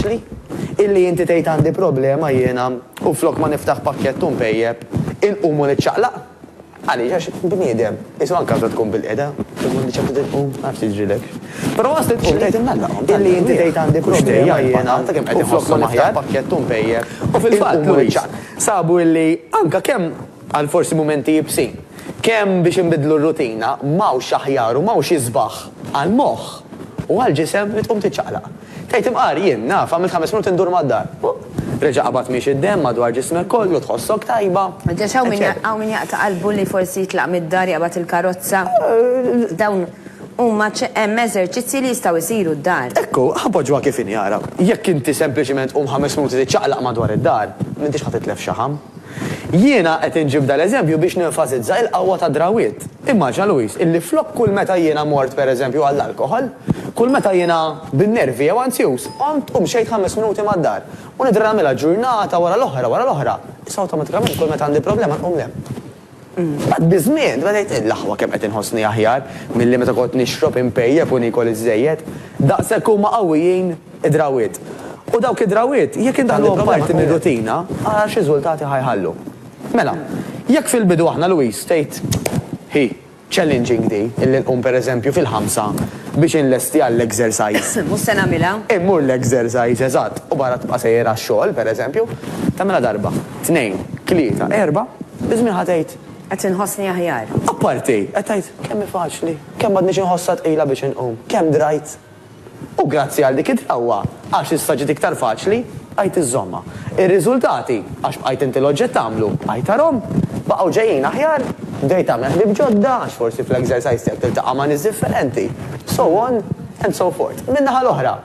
faċli illi inti tgħid għandi problema jiena u flok ma niftaħ pakkett u npejjep, inqum u niċċaqlaq. Għaliex? Għax bniedem, qisu anke meta tkun bilqiegħda, tkun m'għandek ċertu dritt tqum, ma nafx jiġrilek. Però waqt li tqum tgħid innallaqhom, illi inti tgħid għandi problema jiena u flok ma niftaħ pakkett u npejjep, inqum u niċċaqlaq. Sabu illi anke kemm Għal forsi mumenti iebsin. Kemm biex inbiddlu r-rutina, m'hawnx aħjar u m'hawnx isbaħ għall-moħħ u għall-ġisem li tqum tiċċaqlaq. Tgħid imqar, jien, naf, għamilt ħames minuti ndur mad-dar. Huh! Reġa' qabad miexi d-demm madwar ġismek kollu, tħossok tajba, eċċetera. Hawn min jaqta' qalbu li forsi jitlaq mid-dar jaqbad il-karozza. Dawn huma hemm eżerċizzji li jistgħu jsiru d-dar. Ekku, ħa poġġuha kif inhi ara. Jekk inti sempliċement tqum ħames minuti tiċċaqlaq madwar id-dar, m'intix ħa titlef xaħam. Jiena qed inġib dal-eżempju biex nenfasizza il-qawwa tad-drawwiet. Immaġina Louise illi flok kull meta jiena mort pereżempju għall-alkoħol, kull meta jiena bin-nervi jew anzjuż, qomt u mxejt ħames minuti mad-dar, u nidher nagħmilha ġurnata wara l-oħra wara l-oħra, issa awtomatikament kull meta għandi problema nqum l-hemm. Mbagħad biż-żmien tbedejt ngħid, L-aħwa kemm qed inħossni aħjar milli meta kont nixrob, inpejjep u niekol iżżejjed. Daqshekk huma qawwijin id-drawwiet. U dawk id-drawwiet, jekk indaħħluhom parti mir-rutina, ara x'riżultati ħa jħallu. Mela, jekk fil-bidu aħna Louise, tgħid hi, Challenging di, illi nqum per eżempju fil-ħamsa biex inlesti għall-exercise. Mhux se nagħmilha. Immur l-exercise, eżatt, u barra tibqa' sejjer għax-xogħol, per eżempju. Tagħmilha darba, tnejn, tlieta, erbgħa, biż-żmien ħa tgħid. Qed inħossni aħjar. Apparti, qed tgħid, kemm hi faċli, kemm m'għadnix inħossha tqila biex inqum, kemm drajt. U grazzi għal dik id-drawwa, għax issa ġiet iktar faċli, bqajt iżżommha. Ir-riżultati, għax bqajt inti l-oġġett tagħmlu, bqajt arhom, baqgħu ġejjin aħjar, bdejt tagħmel ħbieb ġodda għax forsi fl-exercise tiegħek tiltaqa' ma' nies differenti, so on and so forth. Min-naħa l-oħra,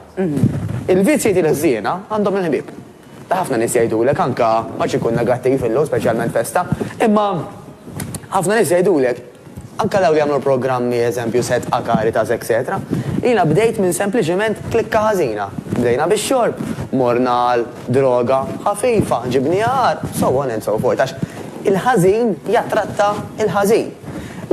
il-vizzji tiegħi l-ħżiena għandhom il-ħbieb. Ħafna nies jgħidulek, anke ma rridx inkun negattiv illum, speċjalment festa, imma ħafna nies jgħidulek, anke dawk li jagħmlu l-programmi, eżempju Set A, Caritas, etċetera, jiena bdejt minn sempliċiment klikka ħażina. Bdejna bix-xorb, morna għal droga ħafifa, ġibnieha agħar, so on and so forth, għax il-ħażin jattratta l-ħażin.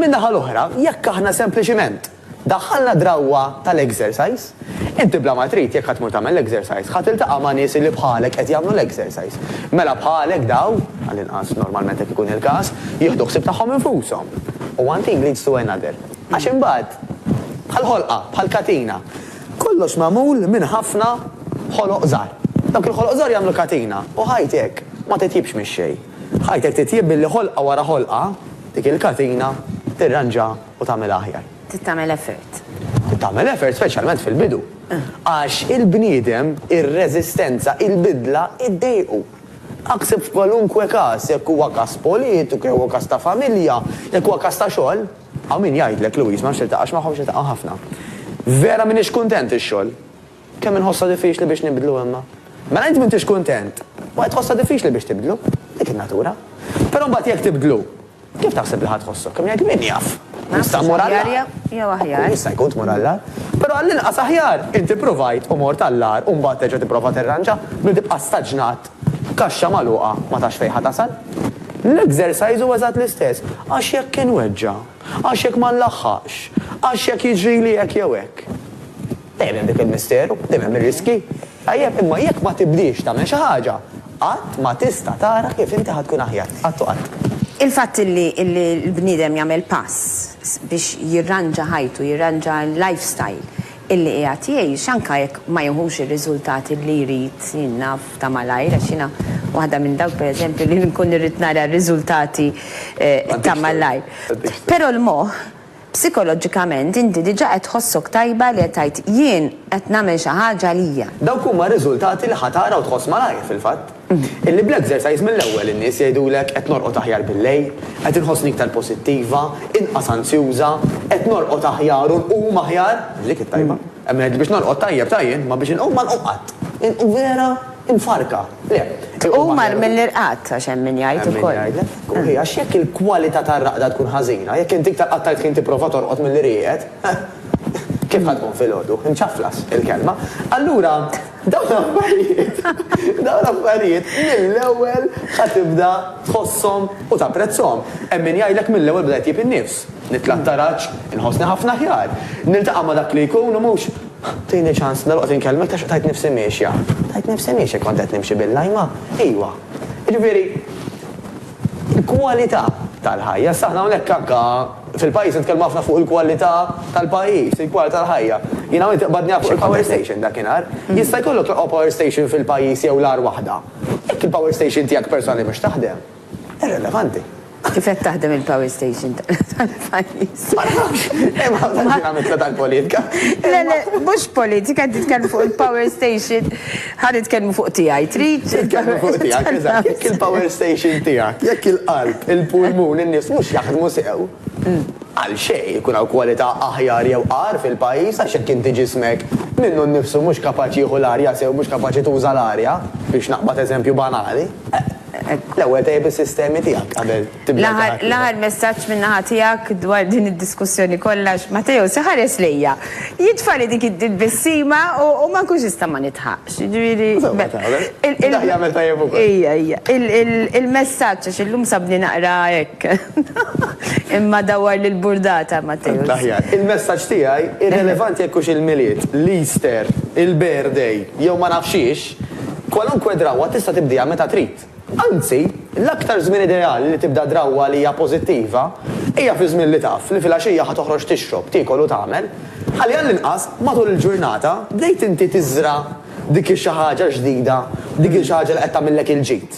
Min-naħa l-oħra, jekk aħna sempliċiment Daħħalna drawwa tal-exercise. Inti bla ma trid, jekk ħa tmur tagħmel l-exercise, ħa tiltaqa' ma' nies li bħalek qed jagħmlu l-exercise. Mela bħalek dawn, għall-inqas normalment hekk ikun il-każ, jieħdu ħsieb tagħhom infushom. One thing leads to another. Għax imbagħad, bħal ħolqa, bħal katina, kollox magħmul minn ħafna ħoloq żgħar. Dawk il-ħoloq żgħar jagħmlu katina u ħajtek ma titjibx mix-xejn. Ħajtek titjieb billi ħolqa wara ħolqa, dik il-katina tirranġa u tagħmilha aħjar. Trid tagħmel effort. Trid tagħmel effort speċjalment fil-bidu. Għax il-bniedem, ir-reżistenza, il-bidla iddejqu. Aħseb f'kwalunkwe każ, jekk huwa każ politiku, jekk huwa każ ta' familja, jekk huwa każ ta' xogħol. Hawn min jgħidlek, Louise, ma nafx tiltaqax magħhom, x'niltaqa' ħafna. Vera m'iniex kuntent ix-xogħol. Kemm inħossha diffiċli biex nibdlu imma. Mela int m'intix kuntent, u qed tħossha diffiċli biex tibdlu. Dik in-natura. Però mbagħad jekk tibdlu, kif taħseb li ħa tħossok? Kemm jgħid min jaf? Jista' mmur għall-agħar. Naħseb aħjar jew aħjar. Jista' jkun tmur għall-agħar. Però għall-inqas aħjar int ippruvajt u mort għall-agħar u mbagħad terġa' tipprova tirranġa milli tibqa' staġnat f'kaxxa magħluqa ma tafx fejn ħa tasal. L-exercise huwa eżatt l-istess. Għax jekk inweġġa'? Għax jekk ma nlaħħaqx? Għax jekk jiġrili hekk jew hekk? Dejjem hemm dik il-misteru, dejjem hemm ir-riskji. Tajjeb, imma jekk ma tibdiex tagħmel xi ħaġa, qatt ma tista' tara kif inti ħa tkun aħjar. Qatt u qatt. Il-fatt li l-bniedem jagħmel pass biex jirranġa ħajtu, jirranġa l-life style illi qiegħed jgħix, anke jekk ma jieħux ir-riżultati li jrid, jien naf, ta' malajr, għax jiena waħda minn dawk, per eżempju, li nkun irrid nara r-riżultati ta' malajr. Però l-moħħ. Psikoloġikament inti diġà qed tħossok tajba li qed tgħid jien qed nagħmel xi ħaġa għalija. Dawk huma r-riżultati li ħa tara u tħoss malajr, fil-fatt. Illi bl-exercise mill-ewwel in-nies jgħidulek qed norqod aħjar bil-lejl, qed inħossni iktar posittiva, inqas anzjuża, qed norqod aħjar u nqum aħjar, dik it-tajba. Hemm min jgħidli biex norqod tajjeb ta' jien, imma biex inqum ma nqum qatt. Vera Imfarrka, le. U mar mill-irqad, għax hemm min jgħid ukoll. Hemm min jgħidlek. Hi, għax jekk il-kwalità tar-raqda tkun ħażina, jekk inti iktar qatt tal-ħin tipprova torqod milli rieqed, kif ħa tkun filgħodu? Imċaflas, il-kelma. Allura, dawn l-affarijiet, dawn l-affarijiet mill-ewwel ħa tibda tħosshom u tapprezzhom. Hemm min jgħidlek mill-ewwel bdejt tjib in-nifs. Nitla' t-taraġ, inħossni ħafna aħjar. Niltaqa' ma' dak li jkun u mhux Tini ċans, dalwaqt inkellmek ta' xieq tgħid nifsi miexja. Tgħid nifsi miexja kont qed nimxi bil-lajma? Iwa. Jiġifieri, il-kwalità tal-ħajja. Issa aħna hawnhekk anke fil-pajjiż nitkellmu ħafna fuq il-kwalità tal-pajjiż, il-kwalità tal-ħajja. Jien hawn inti qbadni hawn fuq il-power station dakinhar. Jista' jkollok l-aqwa power station fil-pajjiż jew l-agħar waħda. Jekk il-power station tiegħek personali mhux taħdem. Irrelevanti. Kif qed taħdem il-power station tal-pajjiż? Ma nafx, hemm ħafna dinamika tal-politika. Le, le, mhux politika, qed titkellmu fuq il-power station. Ħa nitkellmu fuq tiegħi, trid? Titkellmu fuq tiegħek, eżatt, jekk il-power station tiegħek, jekk il-qalb, il-pulmun, in-nies mhux jaħdmu sew. Mm. Għal xejn ikun hawn kwalità aħjar jew qar fil-pajjiż għax hekk inti ġismek minnu nnifsu mhux kapaċi jieħu l-arja sew mhux kapaċi tuża l-arja biex naqbad eżempju banali. L-ewwel tejjeb is-sistemi tiegħek qabel tibda għal xi ħadd ieħor. L-aħħar messaġġ min-naħa tiegħek dwar din id-diskussjoni kollha għax Matteo se ħares lejja, jitfagħli dik il-bessima u ma nkunx nista' ma nidħaqx. Jiġifieri. Dak jagħmel tajjeb ukoll. Ejja, ejja. Il-messaġġ għax illum sabni naqra hekk. Imma dawwar lill-burdata, Matteo. L-aħjar. Il-messaġġ tiegħi, irrelevanti jekk hux il-Milied, l-Easter, il-birthday jew ma nafx xiex, Kwalunkwe drawwa tista' tibdieha meta trid. Anzi, l-aktar żmien ideali li tibda drawwa li hija pożittiva hija fiż-żmien li taf li filgħaxija ħa toħroġ tixrob, tiekol u tagħmel. Ħalli għall-inqas matul il-ġurnata bdejt inti tiżra' dik ix-xi ħaġa ġdida, dik il-xi ħaġa li qed tagħmillek il-ġid.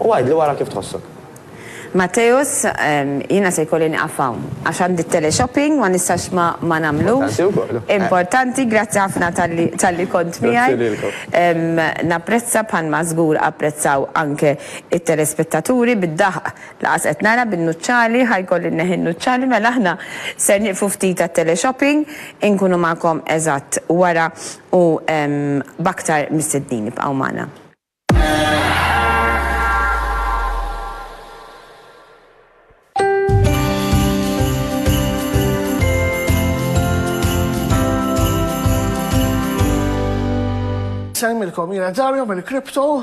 U għidli wara kif tħossok. Matteus, Jiena se jkolli nieqaf hawn, għax għandi t-teleshopping, ma nistax ma nagħmlux. Importanti, grazzi ħafna talli kont miegħi. Napprezza bħalma żgur apprezzaw anke t-telespettaturi bid-daħq. Lanqas qed nara bin-nuċċali, ħa jkolli nneħħi n-nuċċali, mela aħna ser nieqfu ftit għat-teleshopping, inkunu magħkom eżatt wara u b'aktar mistednin. Ibqgħu magħna. Nsellmilkom, jiena Dario mill-Crypto.